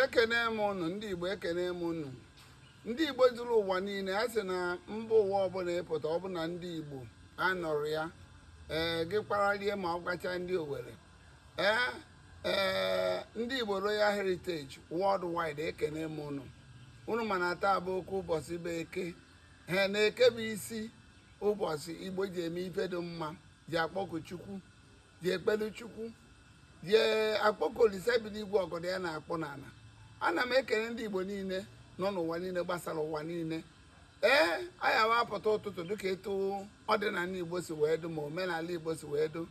ekene m ụnụ ndị igbo ekene m ụnụ ndị igbo zuru ụwa niile a sị na mba ụwa ọbụla ị pụta ọ bụ na ndị igbo anọrọ ya ee gị kparalie ma ọ gbacha ndị owere ee ee ndị igbo royal heritage worldwide ekene m ụnụ ụnụ ma na taa bụ oke ụbọchị bụ eke ee na eke bụ isi ụbọchị igbo ji eme ife dị mma ji akpọku chukwu ji ekpere chukwu ji akpọku olise bi n'igwe ọgọdọ ya na-akpụ n'ala ana m ekele ndị igbo niile nọ n'ụwa niile gbasara ụwa niile ee anyị awapụta ụtụtụ dịka etu ọdịnala igbo si wee dụ ma omenala igbo si wee dụ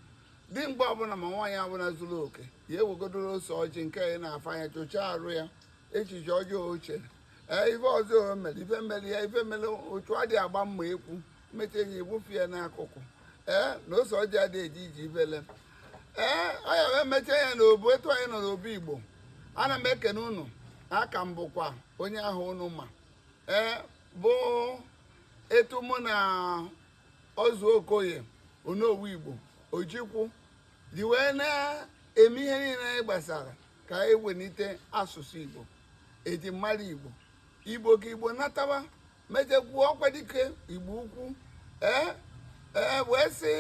dimkpa ọbụla ma nwaanyị ọbụla zuru oke ya ewegodoro ose ọjị nke ya na-afụ anya chụchaa arụ ya echiche ọjọọ o chere ee ife ọjọọ o mere ife mere ya ife mere otu adị agba mma ekwu mmecha ya egbufu ya n'akụkụ ee na ose ọjị adị eje ije ifele ee anyị wee mechaa ya n'obu etu anyị nọ n'obu igbo ana m ekene unu aka m bụkwa onye ahụ unu ma ee bụ etu mụ na ọzọ okoye onowu igbo ojikwu ji wee na-eme ihe niile anyị gbasara ka anyị welite asụsụ igbo eji mara igbo igbo ka igbo nataba m ejekwuo okwadike igbo ukwu ee ee wee sị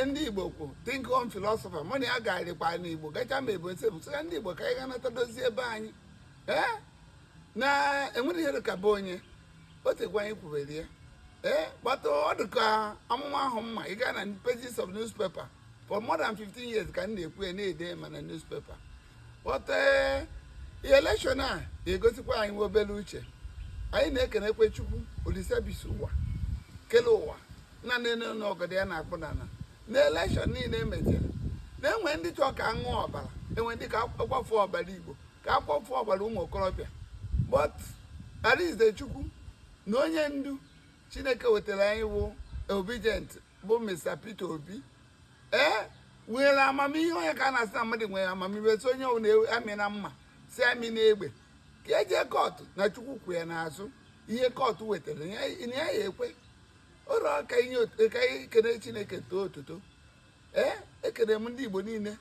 ndị igbo kwu think home philosophy mụ na ya garịkwa n'igbo gacha ma ebo nsebụ sịga ndị igbo ka anyị ga-anata dozie be anyị ee na enwerọ ihe dị ka be onye o tekwa anyị kwubere ya ee but ọ dị ka amụma ahụ ma ị gaa na pages of newspaper for more than 15 years ka m na-ekwu ya na-ede ma na newspaper but eh, elekshọn a ga-egosikwa anyị nwa obere uche anyị na-ekenekwu chukwu olise bi isi ụwa kele ụwa na nene na ọgọdọ ya na-akpụ n'ala na elekshọn niile emejere na-enwe ndị chọọ ka aṅụ ọbara enwe ndị ka akwafu ọbara igbo ka akwafu ọbara ụmụ okorobịa but arịnze chukwu na onye ndu chineke wetara anyị wụ obidient bụ mr peter obi ee nwere amamihe ọ ya ka a na-asị na mmadụ nwere amamihe sị onye amịna mma sị amịna egbe ka eje kọtụ na chukwu kwụ ya n'azụ ihe kọtụ wetara anyị ekwe ụlọ ka anyị kene chineke too otuto ee ekene m ndị igbo niile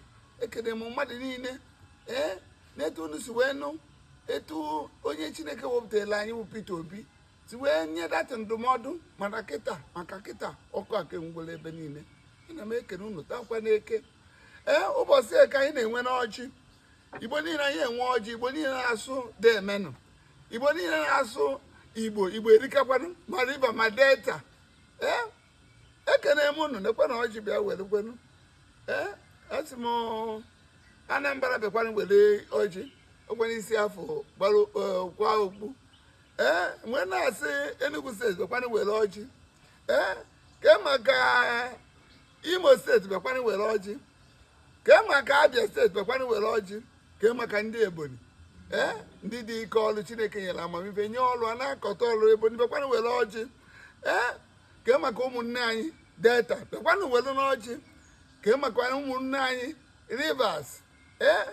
ekene m mmadụ niile ee n'etu unu si wee nụ etu onye chineke wepụtara anyị bụ Peter Obi si wee nye Datti ndụmọdụ mana kịta maka kịta ọkụ aka ngwụla ebe niile ana m ekene unu taa kwa n'eke ee ụbọchị eke anyị na-enwe n'ọjị igbo niile anyị enwe ọjị igbo niile na-asụ deemenụ igbo niile na-asụ igbo igbo erikakwanụ ma riva ma delta ee ekene m unu nekwe na ọjị bịa werekwenu ee asị m anambra bịakwanụ were ọjị okwe n'isi afọ gbara kwa okpu ee m wee na-asị Enugu steeti bịakwanụ were ọjị ee ke maka Imo steeti bịakwanụ were ọjị ke maka Abia steeti bịakwanụ were ọjị ke maka ndị Ebonyi ee ndị dị ike ọrụ Chineke nyere amamife nye ọrụ a na-akọta ọrụ Ebonyi bịakwanụ were ọjị ee ke maka ụmụnne anyị Delta bịakwanụ werenụ ọjị ke maka ụmụnne anyị Rivers ee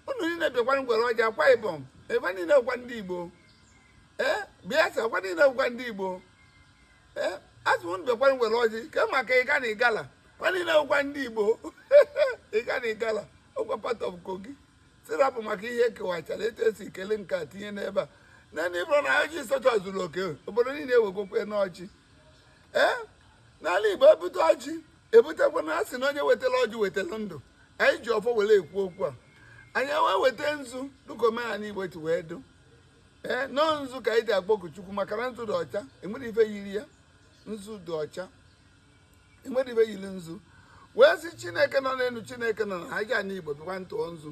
unu niile bịakwanụ were ọjị akwa ibom ebe niile bụkwa ndị igbo ee bayelsa kwa niile bụkwa ndị igbo ee asị unu bịakwanụ were ọjị ke maka ị gaa na igala kwa niile bụkwa ndị igbo ị gaa na igala ọ kwa part of kogi sị rapụ maka ihe e kewachara etu e si kele nke a tinye n'ebe a naanị bụrụ na ọjị sọcha zuru oke obodo niile ewegokwanụ ọjị ee n'ala igbo ebute ọjị ebutekwa na a sị na onye wetara ọjị wetara ndụ anyị ji ọfọ were ekwu okwu a anyị wee weta nzu dịka omenala igbo si wee dụ ee nọọ nzu ka anyị ji akpọku chukwu maka na nzu dị ọcha enwerọ ife yiri ya nzu dị ọcha enwerọ ife yiri nzu wee sị chineke nọ n'elu chineke nọ na ajana igbo bịakwanụ tụọ nzu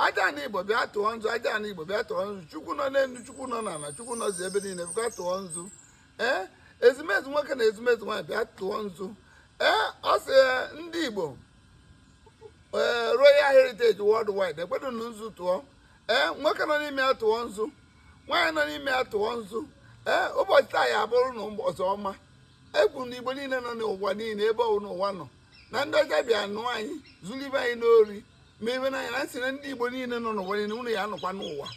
ajana igbo bịa tụọ nzu ajana igbo bịa tụọ nzu chukwu nọ n'elu chukwu nọ n'ala chukwu nọzi ebe niile bịakwa tụọ nzu ee ezumezu nwoke na ezumezu nwaanyị bịa tụọ nzu ee a sị ndị Igbo ee Royal Heritage Worldwide ekwedo na nzu tụọ ee nwoke nọ n'ime ya tụọ nzu nwaanyị nọ n'ime ya tụọ nzu ee ụbọchị taa ya abụrụ na ọzọ ọma ekwu na Igbo niile nọ n'ụwa niile ebe ọwụna wa nọ na ndị ọcha bịa nụ anyị zuru ibe anyị n'ori ma ebe na anyị na nsị na ndị Igbo niile nọ n'ụwa niile unu ya anọkwa n'ụwa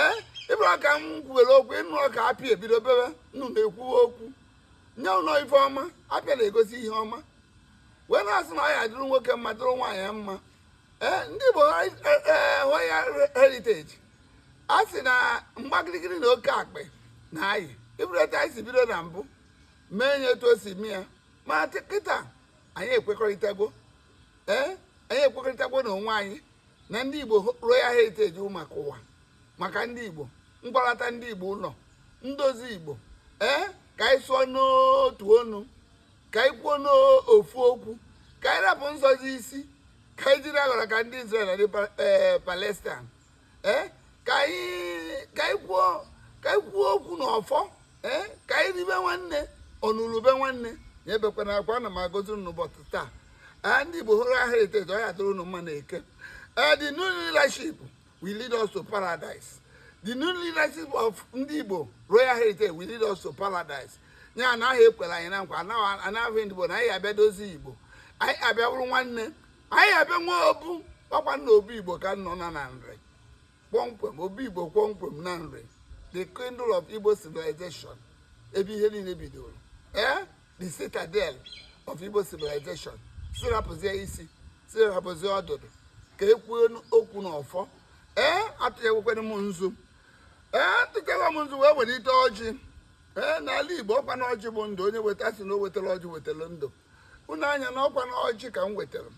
ee ịbụrụ ka m kwuwere okwu ịnụ ọka apịa ebido bebe nnụ na-ekwuwe okwu nye unu ife ọma apịa na-egosi ihe ọma wee na-asị na ọ ya-adịrị nwoke mma dịrị nwaanyị mma ee ndị Igbo Royal Heritage a sị na mgbagirigiri na oke akpị na ayị ịbụrụta anyị si bido na mbụ mee nye etu o si mee ya ma kịta anyị ekwekọrịtago ee anyị ekwekọrịtago na onwe anyị na ndị Igbo Royal Heritage maka ụwa maka ndị igbo ngwalata ndị igbo ụlọ ndozi igbo ee ka anyị sụọ n'otu ọnụ ka anyị kwuo n'ofu okwu ka anyị rapụ nzọzi isi ka anyị jiri aghọrọ ka ndị Israel na ndị eh, Palestine ee eh, ka anyị kwuo ka anyị kwuo okwu na ọfọ ee eh, ka anyị ribe nwanne ọnụlụ ube nwanne ya ebekwana akwa ana m agọzi unu n'ụbọchị taa ndị Igbo Royal Heritage ọ ya adịrị unu mma na eke the new leadership will lead us to paradise the new leadership of ndị Igbo royal heritage will lead us to paradise nya na ha ekwela anyị na nkwa anaghị ndị Igbo na anyị ya abịa dozie Igbo anyị ya abịa bụrụ nwanne anyị ya abịa nwee obu ọkwa na obu Igbo ka a nọ na na Nri kpọmkwem obu Igbo kpọmkwem na Nri the cradle of Igbo civilization ebe ihe niile bidoro ee eh? the citadel of Igbo civilization sị rapụzie isi sị rapụzie ọdụdụ ka e kwuo okwu n'ọfọ ee atụnyekwekwana m nzu ee atụkewa m nzu wee welite ọjị ee n'ala Igbo ọkwa na ọjị bụ ndụ onye weta sị na o wetara ọjị wetara ndụ unu anya na ọkwa na ọjị ka m wetara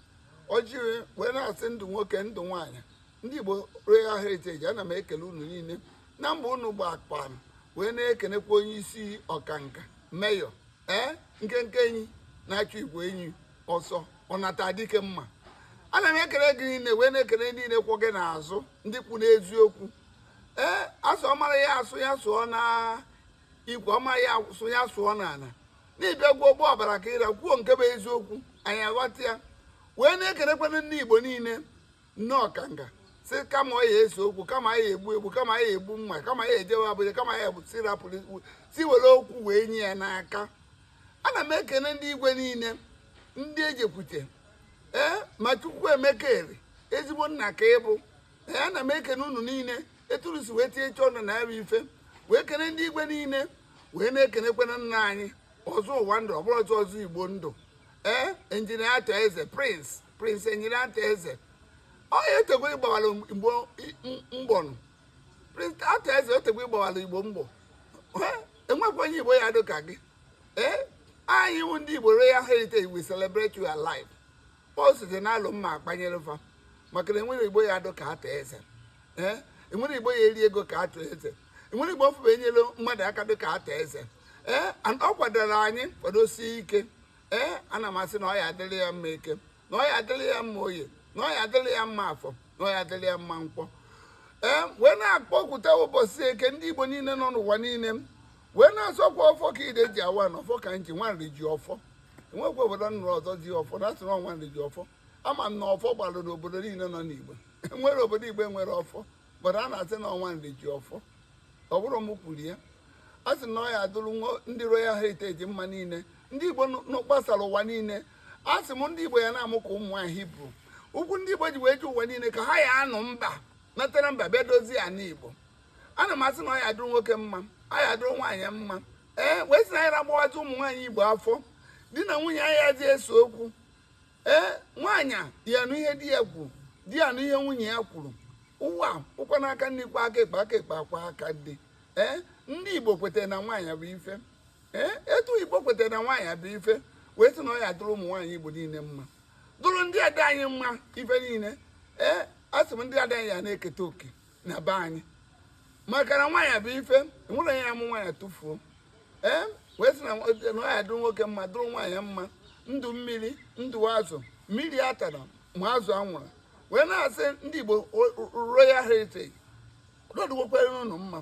ọjị wee na-asị ndụ nwoke ndụ nwaanyị ndị Igbo Royal Heritage ana m ekele unu niile na mba unu gbakpam wee na-ekenekwa onye isi ọkanka meyọ ee nkenke enyi na-achụ igwe enyi ọsọ ọnata dike mma ana m ekele gị niile wee na-ekele niile kwụ gị n'azụ ndị kwụ n'eziokwu ee asị ọmara ya asụ ya sụọ n'ikwe ọma ya asụ ya sụọ n'ala n'ịbịa gwuo ụgbọ ọbara ka ịra kwuo nke bụ eziokwu anyị aghọta ya wee na-ekelekwana ndị igbo niile na ọkanga sị kama ọ ya ese okwu kama ya egbu egbu kama ya egbu mma kama ya ejewe Abuja kama ya egbu si rapụrụ ikwu si were okwu wee nye ya n'aka ana m ekene ndị igwe niile ndị ejekwute ee ma Chukwuemeka Eri ezigbo nna ka ị bụ ee ana m ekene unu niile etu unu si wee tinye uchu na ya bụ ife wee kene ndị igwe niile wee na-ekenekwana nna anyị ọzọ ụwa ndụ ọbụrụ ọzọ ọzọ igbo ndụ ee Engineer Arthur Eze prince Prince Engineer Arthur Eze onye o tegwo ị gbawara igbo mbọ nụ Prince Arthur Eze o tegwo ị gbawara igbo mbọ enwekwa onye igbo ya adị ka gị ee anyị wụ ndị igbo royal heritage we celebrate you alive pọl site na alụ mma akwanyere fa maka na enwerọ igbo ya adị ka Arthur Eze ee enwerọ igbo ya eri ego ka Arthur Eze enwerọ igbo ọfụba enyere mmadụ aka dị ka Arthur Eze ee ọ kwadoro anyị kwadosie ike ee ana m asị na ọ ya adịrị ya mma eke na ọ ya adịrị ya mma oye na ọ ya adịrị ya mma afọ na ọ ya adịrị ya mma nkwọ ee wee na-akpọkwute ụbọchị eke ndị igbo niile nọ n'ụwa niile wee na-asịkwa ọfọ ka ide ji awa ana ọfọ ka nji nwa Nri ji ọfọ enwekwa obodo nụrụ ọzọ ji ọfọ na asịrị ọ nwa Nri ji ọfọ ama m na ọfọ gbara n'obodo niile nọ n'igbo enwerọ obodo igbo enwerọ ọfọ bụrụ a na-asị na ọ nwa Nri ji ọfọ ọ bụrụ m kwuru ya a sị na ọ ya adụrụ ndị Royal Heritage mma niile ndị Igbo gbasara ụwa niile a sị m ndị Igbo ya na-amụ ka ụmụ nwaanyị Hibru ụkwụ ndị Igbo ji wee je ụwa niile ka ha ya anụ mba natara mba bịa dozie ana Igbo ana m asị na ọ ya adụrụ nwoke mma a ya adụrụ nwaanyị mma ee wee sị na anyị na-agbawazi ụmụ nwaanyị Igbo afọ di na nwunye ayazị ese okwu ee nwaanyị ya anụ ihe di ya kwuru di ya anụ ihe nwunye ya kwuru ụwa ọkwa na aka nri kwọ aka ekpe aka ekpe akwọ aka nri ee ndị igbo kwetara na nwaanyị bụ ife ee etu igbo kwetara na nwaanyị bụ ife wee sị na ọ ya adụrụ ụmụ nwaanyị igbo niile mma dụrụ ndị ada anyị mma ife niile ee a sị m ndị ada anyị ya na-eketa oke na be anyị maka na nwaanyị bụ ife nwere ya amụ nwaanyị tụfuo ee wee sị na ọ ya adụrụ nwoke mma dụrụ nwaanyị mma ndụ mmiri ndụ azụ mmiri atana ma azụ anwụna wee na-asị ndị Igbo royal heritage na ọ dụgwokwara unu mma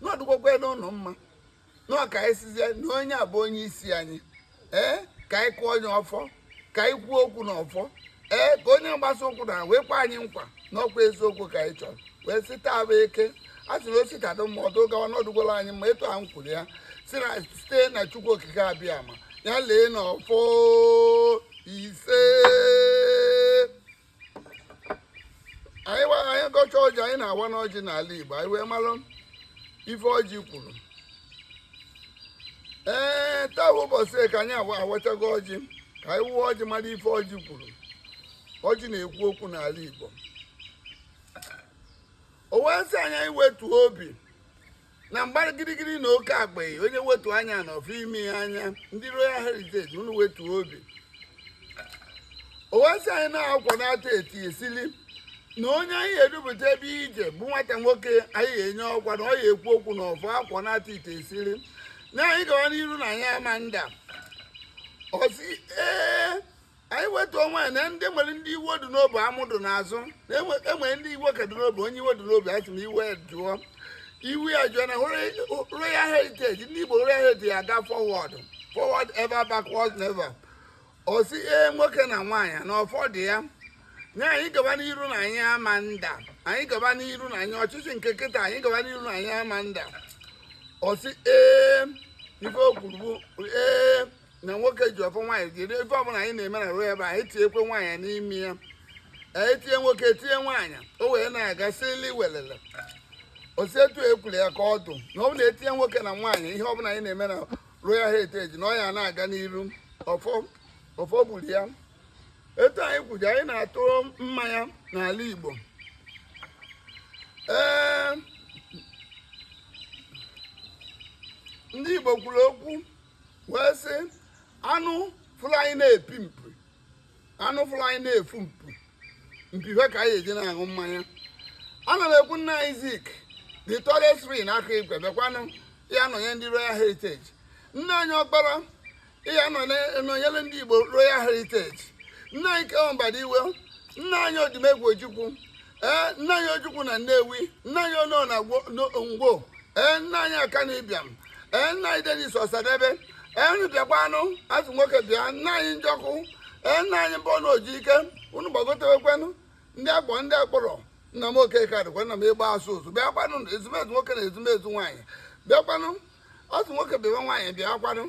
na ọ dụgwokwara unu mma nọ ka anyị sizie na onye a bụ onye isi anyị ee ka anyị kụọ onye ọfọ ka anyị kwuo okwu na ọfọ ee ka onye mgbasa okwu na wee kwe anyị nkwa na ọkwa eziokwu ka anyị chọrọ wee sị taa bụ eke a sị na o si taa dụ mma ọ dụ gawa na ọ dụgwola anyị mma etu a m kwuru ya si na site na chukwu okike abịama ya lee na ọfọ ise anyị gọcha ọjị anyị na-awanụ ọjị n'ala Igbo anyị wee mara ife ọjị kwuru ee taa bụ ụbọchị eke anyị awachago ọjị ka anyị wụọ ọjị mara ife ọjị kwuru ọjị na-ekwu okwu n'ala Igbo o wee sị anyị anyị wetuo obi na agbara gidigidi na oke akpa onye wetu anya na ọ fụ imi ya anya ndị royal heritage unu wetu obi o wee sị anyị na-akwa na-ata eti esili na onye anyị edupụta ebe ije bụ nwata nwoke anyị enye ọkwa na ọ ya ekwu okwu na ọfọ akwa na-ata ite esili na anyị gawa n'iru na anyị ama nda ọ sị ee anyị wetu onwe anyị na ndị nwere ndị iwe dị n'obi amụ dị n'azụ na enwere ndị iwe ka dị n'obi onye iwe dị n'obi asị na iwe jụọ iwe ya jụọ na royal heritage ndị igbo royal heritage aga forward forward ever backward never ọ sị ee nwoke na nwaanyị na ọfọ dụ ya na anyị gaba n'iru na anyị ama nda anyị gaba n'iru na anyị ọchịchị nke kịta anyị gaba n'iru na anyị ama nda ọ sị ee ife o kwuru bụ ee na nwoke ji ọfọ nwaanyị jiri ife ọbụla anyị na-eme na royal eba anyị tinyekwe nwaanyị n'ime ya e tinye nwoke tinye nwaanyị o wee na-aga sili welele osi etu ekwuru ya ka ọ dụ na ọ bụ na e tinye nwoke na nwaanyị ihe ọbụla anyị na-eme na royal heritage na ọ ya na-aga n'iru ọfọ ọfọ gburu ya etu anyị kwuji anyị na-atụ mmanya n'ala igbo ee ndị igbo kwuru okwu wee sị anụ fụrụ anyị na-epu mpi anụ fụrụ anyị na-efu mpi mpi fa ka anyị ji na-aṅụ mmanya ana m ekwu nna anyị zik the tallest tree n'aka igwe bịakwanụ ya nọnye ndị royal heritage nna anyị ọkpara ya nọnyere ndị igbo royal heritage nna anyị K.O. Mbadiwe nna anyị odumegwu ojukwu ee nna anyị ojukwu na nnewi nna anyị onoh na Gwo- no- ngwo ee nna anyị akanu ibiam ee nna anyị dennis ọsadebe ee unu bịakwanụ asị nwoke bịa nna anyị njọkụ ee nna anyị mbọnụ ojike unu gbagotewekwanụ ndị agbọ ndị akpọrọ nna m okeke adịkwa nna m ịgba asụ ụzụ bịakwanụ ezumezu nwoke na ezumezu nwaanyị bịakwanụ asị nwoke bịawa nwaanyị bịakwanụ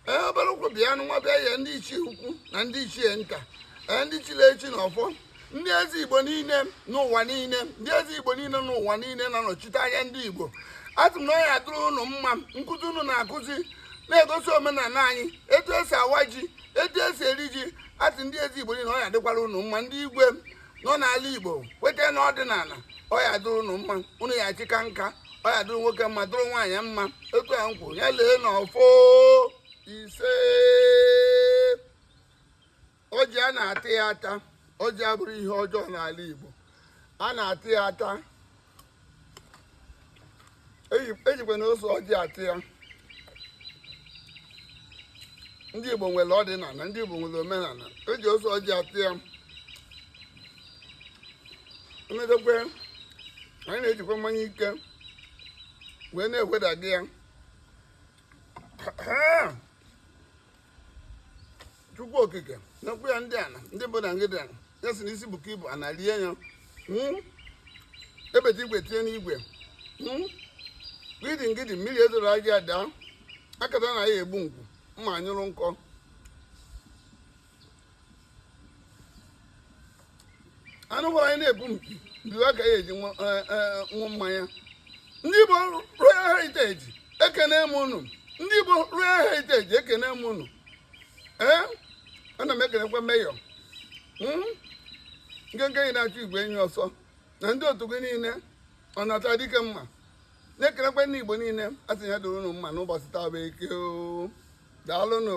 ee obere ụkwụ bịanụ nwa bịa ya ndị ichie ukwu na ndị ichie nta ee ndị chiri echi na ọfọ ndị eze igbo niile n'ụwa niile ndị eze igbo niile n'ụwa niile na-anọchite anya ndị igbo asị m na ọ ya dụrụ unu mma nkuzi unu na-akụzi na-egosi omenala anyị etu esi awa ji etu esi eri ji asị ndị eze igbo niile ọ ya dịkwara unu mma ndị igwe nọ n'ala igbo kweta n'ọdịnala ọ ya dụrụ unu mma unu ya chi kaa nka ọ ya dụrụ nwoke mma dụrụ nwaanyị mma okwu a m kwuru ya lee n'ọfọ ise ọjị a na-ata ya ata ọjị abụrọ ihe ọjọọ n'ala igbo a na-ata ya ata ejikwanụ ose ọjị ata ya ndị Igbo nwere ọdịnala ndị Igbo nwere omenala eji ose ọjị ata ya emedekwe anyị na-ejikwa mmanya ike wee na-ewedaga ya chukwu okike n'okwu ya ndị ana ndị bụ na ngịdị ana ya si n'isi bụkọ ibu a na-alie ya hmm? ebeta igwe tinye n'igwe hmm? gidi ngidi mmiri ezoro gị ada akata na ya egbu ngwu mma anyụrụ nkọ anụ gwara anyị na-epu mpi mpi wa ka anyị ji aṅụ e, e, mmanya ndị Igbo Royal Heritage ekene m unu ndị Igbo Royal Heritage ekene m unu ee ana m ekenekwa mayor hmm? nkenke enyi na-achụ igwe enyi ọsọ na ndị otu gị niile ọ nata dike mma na-ekelekwe ndị igbo niile a sị ya doro unu mma n'ụbọchị taa bụ eke daalụnụ